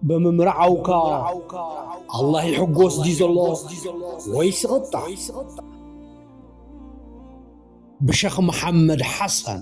ብምምርዓውካ ኣላህ ይሕጎስ ድዩ ዘሎ ወይስ ይቕጣዕ? ብሸኽ መሓመድ ሓሰን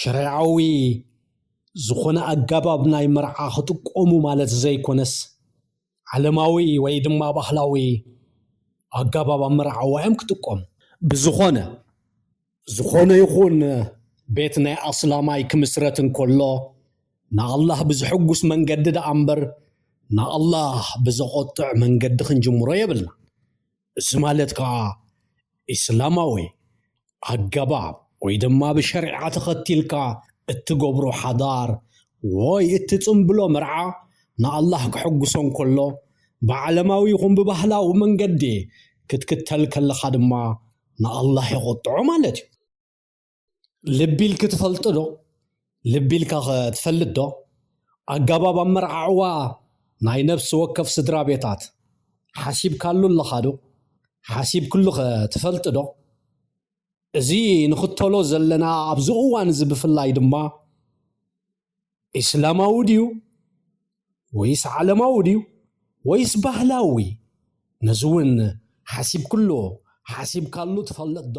ሸሪዓዊ ዝኾነ ኣጋባብ ናይ መርዓ ክጥቀሙ ማለት ዘይኮነስ ዓለማዊ ወይ ድማ ባህላዊ ኣጋባብ ኣመራዓዋ እዮም ክጥቀሙ ብዝኾነ ዝኾነ ይኹን ቤት ናይ ኣስላማይ ክምስረት እንከሎ ንኣላህ ብዝሕጉስ መንገዲ ደኣ እምበር ንኣላህ ብዘቖጥዕ መንገዲ ክንጅምሮ የብልና እዚ ማለት ከዓ ኢስላማዊ ኣገባብ ወይ ድማ ብሸሪዓ ተኸቲልካ እትገብሮ ሓዳር ወይ እትፅምብሎ መርዓ ንኣላህ ከሐጉሶ እንከሎ ብዓለማዊ ይኹን ብባህላዊ መንገዲ ክትክተል ከለኻ ድማ ንኣላህ የቖጥዖ ማለት እዩ። ልቢልኪ ትፈልጢ ዶ? ልቢልካ ከ ትፈልጥ ዶ? ኣጋባብ ኣመራዓዕዋ ናይ ነብሲ ወከፍ ስድራ ቤታት ሓሲብካሉ ኣለኻ ዶ? ሓሲብክሉ ከ ትፈልጢ ዶ? እዚ ንኽተሎ ዘለና ኣብዚ እዋን እዚ ብፍላይ ድማ ኢስላማዊ ድዩ ወይስ ዓለማዊ ድዩ ወይስ ባህላዊ ነዚ እውን ሓሲብክሉ ሓሲብካሉ ትፈልጥ ዶ?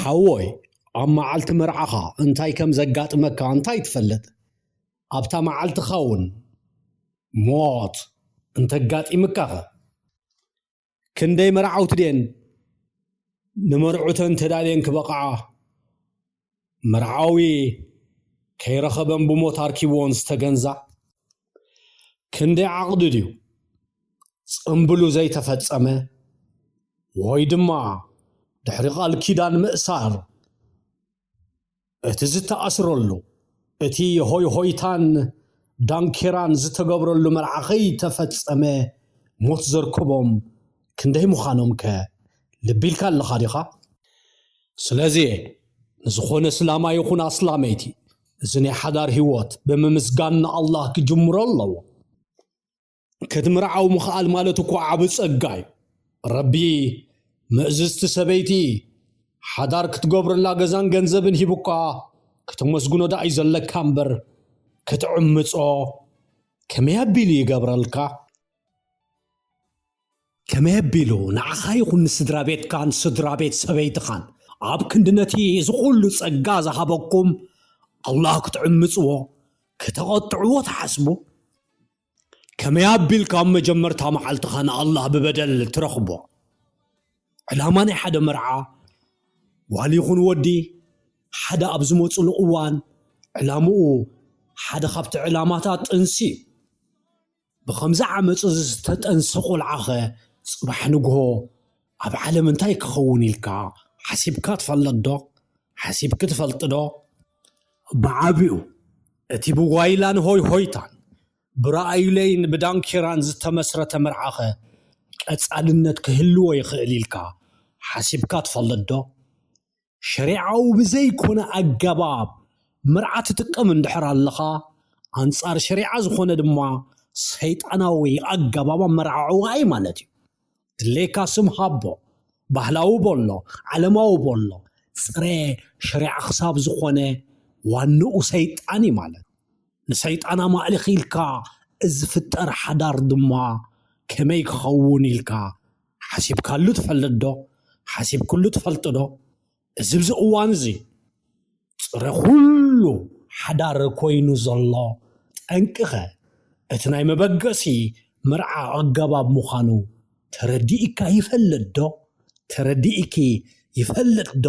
ሓወይ ኣብ መዓልቲ መርዓኻ እንታይ ከም ዘጋጥመካ እንታይ ትፈልጥ? ኣብታ መዓልትኻ እውን ሞት እንተጋጢምካኸ? ክንደይ መርዓውቲ ድየን ንመርዑተን ተዳልየን ክበቕዓ መርዓዊ ከይረኸበን ብሞት ኣርኪብወን ዝተገንዛ? ክንደይ ዓቕዲ ድዩ ጽምብሉ ዘይተፈጸመ ወይ ድማ ድሕሪ ቃል ኪዳን ምእሳር እቲ ዝተኣስረሉ እቲ ሆይሆይታን ዳንኬራን ዝተገብረሉ መርዓ ከይተፈጸመ ሞት ዘርክቦም ክንደይ ምዃኖም ከ ልቢ ኢልካ ኣለኻ ዲኻ ስለዚ ንዝኾነ ስላማ ይኹን ኣስላመይቲ እዚ ናይ ሓዳር ህይወት ብምምስጋን ንኣላህ ክጅምሮ ኣለዎ። ክትምርዓው ምኽኣል ማለት እኮ ዓቢ ጸጋ እዩ። ረቢ ምእዝዝቲ ሰበይቲ ሓዳር ክትገብረላ ገዛን ገንዘብን ሂቡካ ክተመስግኖ ደኣ እዩ ዘለካ እምበር ክትዕምጾ ከመይ ኣቢሉ ይገብረልካ? ከመይ ኣቢሉ ንዓኻ ይኹን ንስድራቤትካን ስድራቤት ሰበይትኻን ኣብ ክንዲ ነቲ እዚ ዅሉ ጸጋ ዝሃበኩም ኣላህ ክትዕምጽዎ ከተቘጥዕዎ ትሓስቡ? ከመይ ኣቢልካ ኣብ መጀመርታ መዓልትኻ ንኣላህ ብበደል ትረኽቦ? ዕላማ ናይ ሓደ መርዓ ጓል ይኹን ወዲ ሓደ ኣብ ዝመጽሉ እዋን ዕላምኡ ሓደ ካብቲ ዕላማታት ጥንሲ እዩ። ብኸምዚ ዓመጽ እዚ ዝተጠንሰ ቆልዓኸ ጽባሕ ንግሆ ኣብ ዓለም እንታይ ክኸውን ኢልካ ሓሲብካ ትፈልጥ ዶ? ሓሲብኪ ትፈልጢ ዶ? ብዓቢኡ እቲ ብጓይላን ሆይሆይታን ብራእዩለይን ብዳንኬራን ዝተመስረተ መርዓኸ ቀጻልነት ክህልዎ ይኽእል ኢልካ ሓሲብካ ትፈልጥ ዶ? ሸሪዓዊ ብዘይኮነ ኣገባብ መርዓ ትጥቀም እንድሕር ኣለኻ ኣንጻር ሸሪዓ ዝኾነ ድማ ሰይጣናዊ ኣገባብ ኣመራዕዕዋ እዩ ማለት እዩ። ድሌካ ስም ሃቦ፣ ባህላዊ በሎ፣ ዓለማዊ በሎ፣ ጽረ ሸሪዓ ክሳብ ዝኾነ ዋንኡ ሰይጣን እዩ ማለት እዩ። ንሰይጣን ኣማእሊኽ ኢልካ ዝፍጠር ሓዳር ድማ ከመይ ክኸውን ኢልካ ሓሲብካሉ ትፈልጥዶ? ሓሲብክሉ ትፈልጥዶ? እዚ ኣብዚ እዋን እዚ ፅረ ኩሉ ሓዳር ኮይኑ ዘሎ ጠንቂኸ እቲ ናይ መበገሲ መርዓ ኣገባብ ምዃኑ ተረዲእካ ይፈልጥ ዶ? ተረዲእኪ ይፈልጥ ዶ?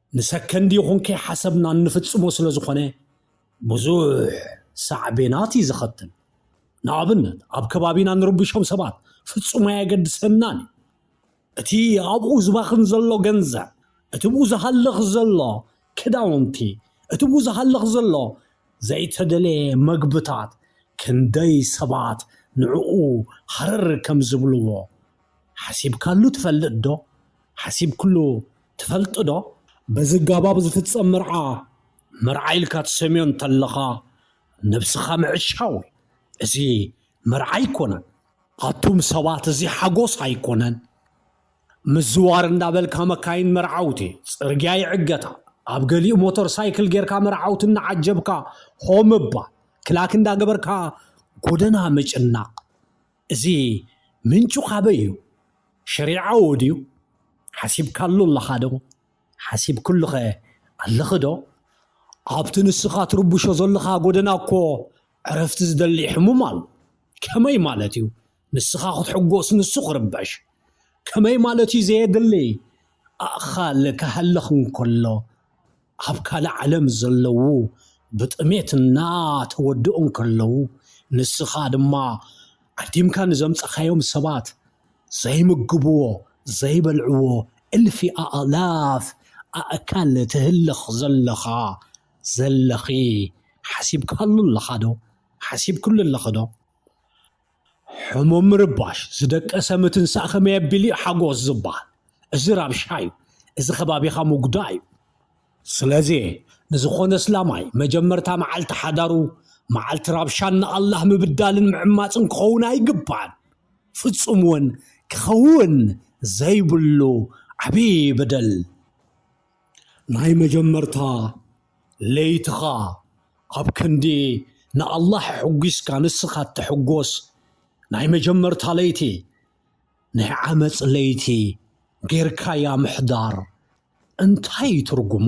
ንሰከንድ ይኹን ከይሓሰብና እንፍጽሞ ስለ ዝኾነ ብዙሕ ሳዕቤናት እዩ ዘኸትል። ንኣብነት ኣብ ከባቢና ንርብሾም ሰባት ፍጹም ኣየገድሰናን እዩ። እቲ ኣብኡ ዝባኽን ዘሎ ገንዘብ፣ እቲ ብኡ ዝሃልኽ ዘሎ ክዳውንቲ፣ እቲ ብኡ ዝሃልኽ ዘሎ ዘይተደለየ መግብታት ክንደይ ሰባት ንዕኡ ሃረር ከም ዝብልዎ ሓሲብካሉ ትፈልጥ ዶ? ሓሲብክሉ ትፈልጥ ዶ? በዚ ኣገባብ ዝፍጸም መርዓ፣ መርዓ ኢልካ ትሰምዮ እንተለኻ ነብስኻ ምዕሻው እዩ። እዚ መርዓ ኣይኮነን። ኣቱም ሰባት እዚ ሓጎስ ኣይኮነን። ምዝዋር እንዳበልካ መካይን መርዓውቲ ጽርግያ ይዕገታ፣ ኣብ ገሊኡ ሞተር ሳይክል ጌርካ መርዓውቲ እናዓጀብካ ሆ ምባል፣ ክላክ እንዳገበርካ ጎደና ምጭናቕ፣ እዚ ምንጩ ካበይ እዩ? ሸሪዓዊ ድዩ? ሓሲብካሉ ኣለኻ ዶ? ሓሲብክሉኸ ኣለኺ ዶ? ኣብቲ ንስኻ ትርብሾ ዘለኻ ጎደና እኮ ዕረፍቲ ዝደሊ ሕሙም ኣሎ። ከመይ ማለት እዩ ንስኻ ክትሕጎስ ንሱ ክርበሽ? ከመይ ማለት እዩ ዘየድሊ ኣእኻል ክሃልኽ እንከሎ? ኣብ ካልእ ዓለም ዘለዉ ብጥሜት እናተወድኡ እንከለዉ ንስኻ ድማ ዓዲምካ ንዘምጻኻዮም ሰባት ዘይምግብዎ ዘይበልዕዎ እልፊ ኣእላፍ ኣእካል ትህልኽ ዘለኻ ዘለኺ ሓሲብካሉ ኣለኻዶ? ሓሲብክሉ ኣለኺዶ? ሕሙም ምርባሽ ዝደቀሰ ምትንሳእ ከመይ ኣቢሉ እዩ ሓጎስ ዝበሃል? እዚ ራብሻ እዩ፣ እዚ ከባቢኻ ምጉዳእ እዩ። ስለዚ ንዝኾነ እስላማይ መጀመርታ መዓልቲ ሓዳሩ መዓልቲ ራብሻን ንኣላህ ምብዳልን ምዕማጽን ክኸውን ኣይግባእን፣ ፍጹም እውን ክኸውን ዘይብሉ ዓብዪ በደል። ናይ መጀመርታ ለይትኻ ኣብ ክንዲ ንኣላህ ሕጒስካ ንስኻ እትሕጎስ ናይ መጀመርታ ለይቲ ናይ ዓመፅ ለይቲ ጌርካያ ምሕዳር እንታይ እዩ ትርጉሙ?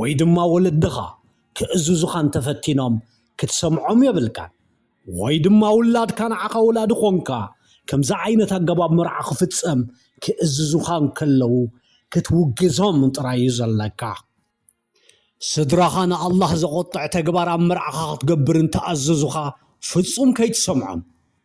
ወይ ድማ ወለድኻ ክእዝዙኻ እንተፈቲኖም ክትሰምዖም የብልካን። ወይ ድማ ውላድካ ንዓኻ ወላዲ ኾንካ ከምዚ ዓይነት ኣገባብ መርዓ ክፍጸም ክእዝዙኻ እንከለዉ ክትውግዞም ጥራይ እዩ ዘለካ። ስድራኻ ንኣላህ ዘቖጥዕ ተግባር ኣብ መርዓኻ ክትገብር እንተኣዘዙኻ ፍጹም ከይትሰምዖም።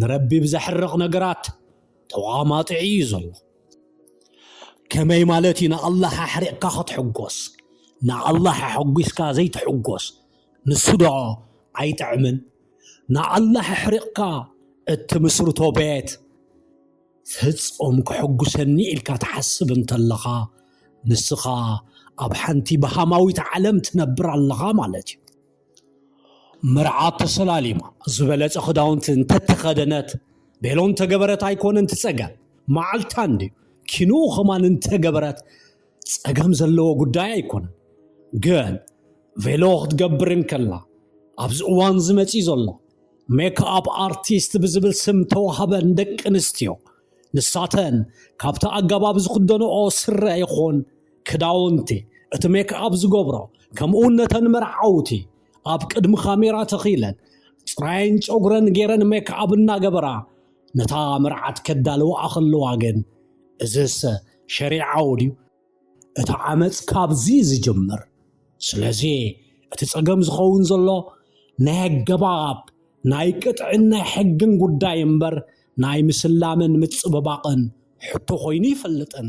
ንረቢ ብዘሕርቕ ነገራት ተቋማጥዒ እዩ ዘሎ ከመይ ማለት እዩ ንኣላህ ኣሕሪቕካ ክትሕጎስ ንኣላህ ኣሐጒስካ ዘይትሕጎስ ንሱ ዶ ኣይጥዕምን ንኣላህ ኣሕሪቕካ እትምስርቶ ቤት ፍጹም ክሕጉሰኒ ኢልካ ትሓስብ እንተለኻ ንስኻ ኣብ ሓንቲ ብሃማዊት ዓለም ትነብር ኣለኻ ማለት እዩ መርዓ ተሰላሊማ ዝበለጸ ክዳውንቲ እንተተኸደነት ቤሎ እንተገበረት ኣይኮነን እቲ ጸገም መዓልታ እንድዩ ኪንኡ ከማን እንተገበረት ጸገም ዘለዎ ጉዳይ ኣይኮነን ግን ቬሎ ክትገብር እንከላ ኣብዚ እዋን ዝመፂ ዘሎ ሜክኣፕ ኣርቲስት ብዝብል ስም ተዋህበን ደቂ ኣንስትዮ ንሳተን ካብቲ ኣገባብ ዝኽደንኦ ስረ ይኹን ክዳውንቲ፣ እቲ ሜክኣፕ ዝገብሮ፣ ከምኡውን ነተን መርዓውቲ ኣብ ቅድሚ ካሜራ ተኺለን ጽራየን ጨጉረን ገይረን ሜክኣብ እናገበራ ነታ መርዓት ከዳልዋኣ ከለዋ ግን እዝሰ ሸሪዓዊ ድዩ? እቲ ዓመፅ ካብዚ ዝጅምር ስለዚ እቲ ፀገም ዝኸውን ዘሎ ናይ ኣገባብ ናይ ቅጥዕን ናይ ሕግን ጉዳይ እምበር ናይ ምስላምን ምፅብባቕን ሕቶ ኮይኑ ይፈልጥን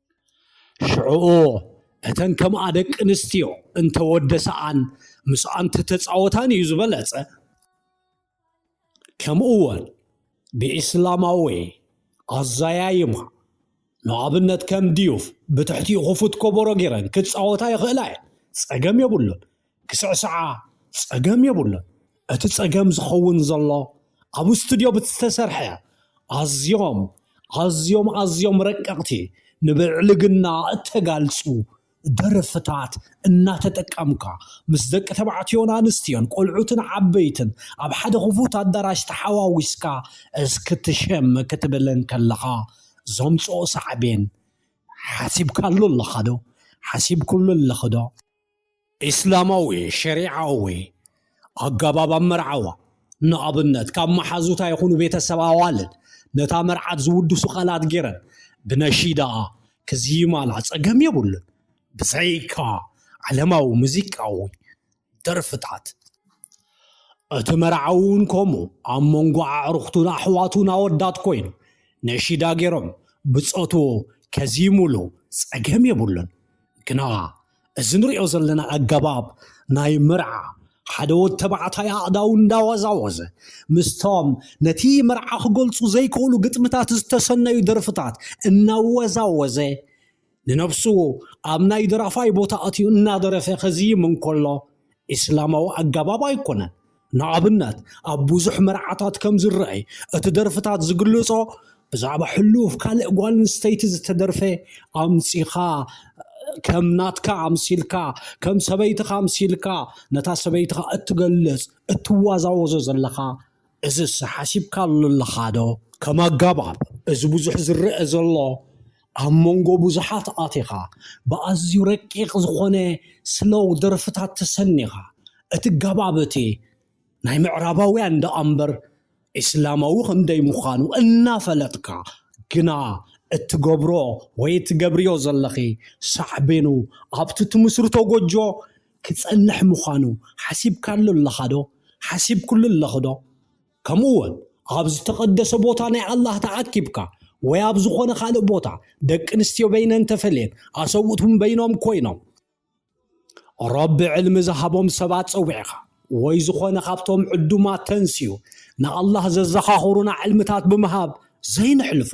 ሽዑኡ እተን ከምኣ ደቂ ኣንስትዮ እንተወደሰኣን ምስኣ እንተተፃወታን እዩ ዝበለፀ ከምኡ እውን ብኢስላማዊ ኣዘያይማ ንኣብነት ከም ድዩፍ ብትሕቲኡ ክፉት ከበሮ ገይረን ክፃወታ ይኽእላ እየን ፀገም የብሉን ክስዕስዓ ጸገም የብሉን። እቲ ጸገም ዝኸውን ዘሎ ኣብ ስቱድዮ ብዝተሰርሐ ኣዝዮም ኣዝዮም ኣዝዮም ረቀቕቲ ንብዕልግና እተጋልጹ ደርፍታት እናተጠቀምካ ምስ ደቂ ተባዕትዮን ኣንስትዮን ቆልዑትን ዓበይትን ኣብ ሓደ ክፉት ኣዳራሽ ተሓዋዊስካ እስክትሸም ክትብል እንከለኻ ዘምጽኦ ሳዕቤን ሓሲብካሉ ኣለኻዶ? ሓሲብኩሉ ኣለኺዶ? ኢስላማዊ፣ ሸሪዓዊ፣ ኣገባብ ኣመርዓዋ፣ ንኣብነት ካብ መሓዙታ ይኹኑ ቤተሰብ ኣዋልድ ነታ መርዓት ዝውድሱ ቃላት ገይረን ብነሺዳኣ ክዝይማላ ጸገም የብሉን፣ ብዘይካ ዓለማዊ ሙዚቃዊ ደርፍታት። እቲ መርዓዊ'ውን ከምኡ ኣብ መንጎ ኣዕሩኽቱን ኣሕዋቱን ኣወዳት ኮይኑ ነሺዳ ገይሮም ብጾቱ ከዝይሙሉ ጸገም የብሉን፣ ግና እዚ ንሪኦ ዘለና ኣገባብ ናይ መርዓ ሓደ ወድ ተባዕታይ ኣእዳው እንዳወዛወዘ ምስቶም ነቲ መርዓ ክገልፁ ዘይክእሉ ግጥምታት ዝተሰነዩ ደርፍታት እናወዛወዘ ንነብሱ ኣብ ናይ ደራፋይ ቦታ ኣትዩ እናደረፈ ከዝይም እንከሎ ኢስላማዊ ኣገባብ ኣይኮነን። ንኣብነት ኣብ ብዙሕ መርዓታት ከም ዝረኣይ እቲ ደርፍታት ዝግልጾ ብዛዕባ ሕሉፍ ካልእ ጓል ኣንስተይቲ ዝተደርፈ ኣምጺኻ ከም ናትካ ኣምሲልካ ከም ሰበይትኻ ኣምሲልካ ነታ ሰበይትኻ እትገልጽ እትዋዛወዞ ዘለኻ እዝስ ሓሲብካሉ ኣለኻዶ? ከም ኣጋባብ እዚ ብዙሕ ዝረኣ ዘሎ ኣብ መንጎ ብዙሓት ኣቲኻ ብኣዝዩ ረቂቕ ዝኾነ ስሎው ደርፍታት ተሰኒኻ እቲ ጋባብ እቲ ናይ ምዕራባውያን ደኣምበር ኢስላማዊ ከምደይ ምዃኑ እናፈለጥካ ግና እትገብሮ ወይ እትገብርዮ ዘለኺ ሳዕቤኑ ኣብቲ ትምስርቶ ጎጆ ክጸንሕ ምዃኑ ሓሲብካሉ ኣለኻዶ ሓሲብክሉ ኣለኺዶ ከምኡ ወን ኣብ ዝተቐደሰ ቦታ ናይ ኣላህ ተኣኪብካ ወይ ኣብ ዝኾነ ካልእ ቦታ ደቂ ኣንስትዮ በይነን ተፈልየን ኣሰብኡት እውን በይኖም ኮይኖም ረቢ ዕልሚ ዝሃቦም ሰባት ጸዊዕኻ ወይ ዝኾነ ካብቶም ዕዱማት ተንስዩ ንኣላህ ዘዘኻኽሩና ዕልምታት ብምሃብ ዘይንሕልፎ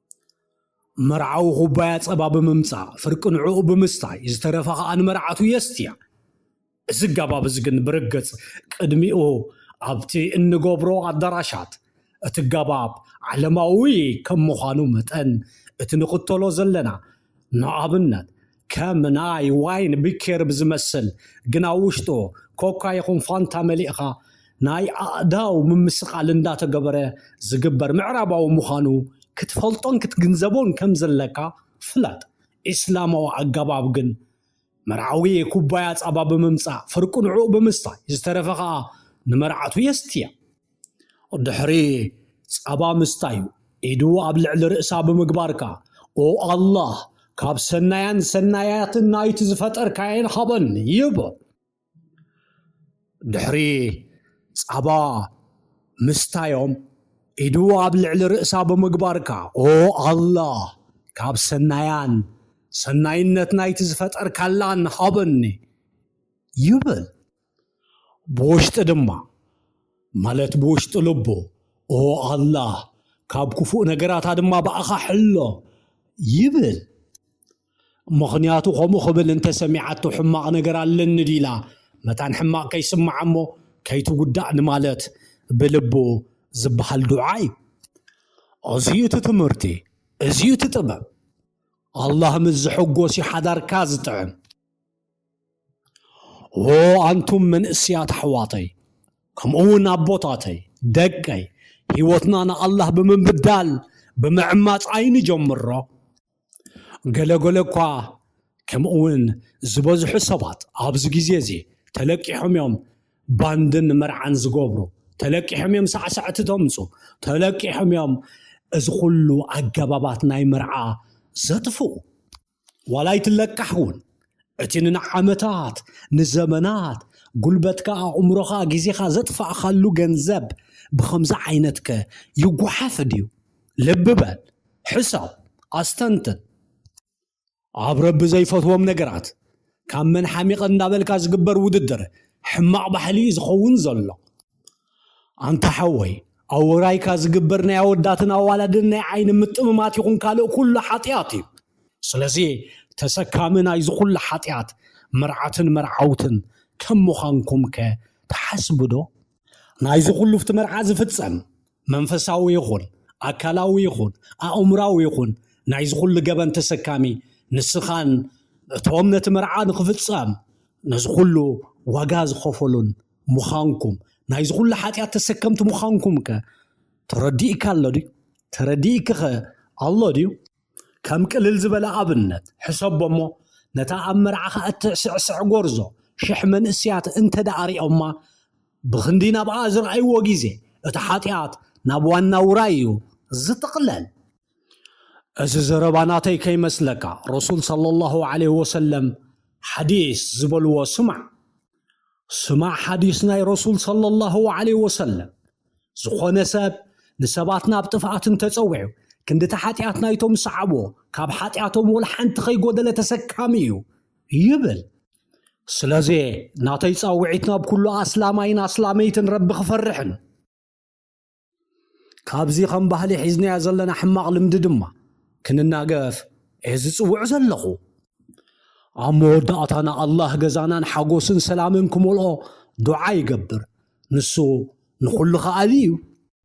መርዓዊ ኩባያ ጸባ ብምምጻእ ፍርቂ ንዕኡ ብምስታይ ዝተረፈ ከኣ ንመርዓቱ የስትያ። እዚ ኣገባብ እዚ ግን ብርግጽ ቅድሚኡ ኣብቲ እንገብሮ ኣዳራሻት እቲ ኣገባብ ዓለማዊ ከም ምዃኑ መጠን እቲ ንኽተሎ ዘለና ንኣብነት ከም ናይ ዋይን ቢኬር ብዝመስል ግን ኣብ ውሽጡ ኮካ ይኹን ፋንታ መሊእኻ ናይ ኣእዳው ምምስቓል እንዳተገበረ ዝግበር ምዕራባዊ ምዃኑ ክትፈልጦን ክትግንዘቦን ከም ዘለካ ፍለጥ። ኢስላማዊ ኣገባብ ግን መርዓዊ ኩባያ ጸባ ብምምጻእ ፍርቁ ንዕኡ ብምስታይ ዝተረፈ ከኣ ንመርዓቱ የስትያ። ድሕሪ ጸባ ምስታዩ ኢዱ ኣብ ልዕሊ ርእሳ ብምግባርካ ኦ ኣላህ ካብ ሰናያን ሰናያትን ናይቲ ዝፈጠርካየን ሃበን ይብ ድሕሪ ጻባ ምስታዮም ኢዱ ኣብ ልዕሊ ርእሳ ብምግባርካ ኦ ኣላህ ካብ ሰናያን ሰናይነት ናይቲ ዝፈጠርካላን ሃበኒ ይብል ብውሽጢ ድማ ማለት ብውሽጢ ልቡ ኦ ኣላህ ካብ ክፉእ ነገራት ድማ ብኣኻ ሕሎ ይብል። ምኽንያቱ ከምኡ ክብል እንተሰሚዓቶ ሕማቕ ነገር ኣለኒ ዲላ መታን ሕማቕ ከይስምዓ እሞ ከይትጉዳእ ንማለት ብልቡ ዝበሃል ዱዓ እዩ። እዚ እዩ እቲ ትምህርቲ፣ እዚ እዩ እቲ ጥበብ። ኣላህ ምስ ዝሕጎስ እዩ ሓዳርካ ዝጥዕም። ኦ ኣንቱም መንእስያት ኣሕዋተይ ከምኡ እውን ኣቦታተይ ደቀይ ህይወትና ንኣላህ ብምብዳል ብምዕማፅ ኣይንጀምሮ ገለ ገለ እኳ ከምኡ እውን ዝበዝሑ ሰባት ኣብዚ ግዜ እዚ ተለቂሖም እዮም ባንድን መርዓን ዝገብሩ ተለቂሖም እዮም ሳዕሳዕቲ ተምፁ ተለቂሖም እዮም እዚ ኩሉ ኣገባባት ናይ መርዓ ዘጥፍኡ ዋላ ኣይትለቃሕ እውን እቲ ንዓመታት ንዘመናት ጉልበትካ ኣእምሮኻ ግዜኻ ዘጥፋእካሉ ገንዘብ ብኸምዚ ዓይነት ከ ይጓሓፍ ድዩ ልቢ በል ሕሰብ ኣስተንትን ኣብ ረቢ ዘይፈትዎም ነገራት ካብ መን ሓሚቐ እንዳበልካ ዝግበር ውድድር ሕማቕ ባህሊ እዩ ዝኸውን ዘሎ ኣንታ ሓወይ ኣብ ውራይካ ዝግበር ናይ ኣወዳትን ኣዋላድን ናይ ዓይኒ ምጥምማት ይኹን ካልእ ኩሉ ሓጢኣት እዩ። ስለዚ ተሰካሚ ናይዚ ኩሉ ሓጢኣት መርዓትን መርዓውትን ከም ምዃንኩምከ ትሓስቡዶ? ናይዚ ኩሉ ኣብቲ መርዓ ዝፍጸም መንፈሳዊ ይኹን ኣካላዊ ይኹን ኣእምራዊ ይኹን ናይዚ ኩሉ ገበን ተሰካሚ ንስኻን እቶም ነቲ መርዓ ንኽፍጸም ነዚ ኩሉ ዋጋ ዝኸፈሉን ምዃንኩም ናይዚ ኩሉ ሓጢኣት ተሰከምቲ ምዃንኩም ከ ተረዲእካ ኣሎ ድዩ? ተረዲእኪ ኸ ኣሎ ድዩ? ከም ቅልል ዝበለ ኣብነት ሕሰቦ እሞ ነታ ኣብ መርዓኻ እትዕስዕስዕ ጎርዞ ሽሕ መንእስያት እንተ ደኣ ሪኦማ ብኽንዲ ናብኣ ዝረኣይዎ ግዜ እቲ ሓጢኣት ናብ ዋና ውራይ እዩ ዝጥቕለል። እዚ ዘረባ ናተይ ከይመስለካ ረሱል ሰለላሁ ዓለይሂ ወሰለም ሓዲስ ዝበልዎ ስማዕ። ስማዕ ሓዲስ ናይ ረሱል ሰለላሁ ዓለይሂ ወሰለም ዝኾነ ሰብ ንሰባት ናብ ጥፍኣት እንተጸዊዑ ክንድቲ ሓጢኣት ናይቶም ዝሰዓብዎ ካብ ሓጢኣቶም ወላ ሓንቲ ከይጎደለ ተሰካሚ እዩ ይብል ስለዚ ናተይ ጻውዒት ናብ ኩሉ ኣስላማይን ኣስላመይትን ረቢ ክፈርሕን ካብዚ ከም ባህሊ ሒዝናዮ ዘለና ሕማቕ ልምዲ ድማ ክንናገፍ እየ ዝጽውዕ ዘለኹ ኣብ መወዳእታ ንኣላህ ገዛናን ሓጎስን ሰላምን ክመልኦ ዱዓ ይገብር ንሱ ንዅሉ ኸኣሊ እዩ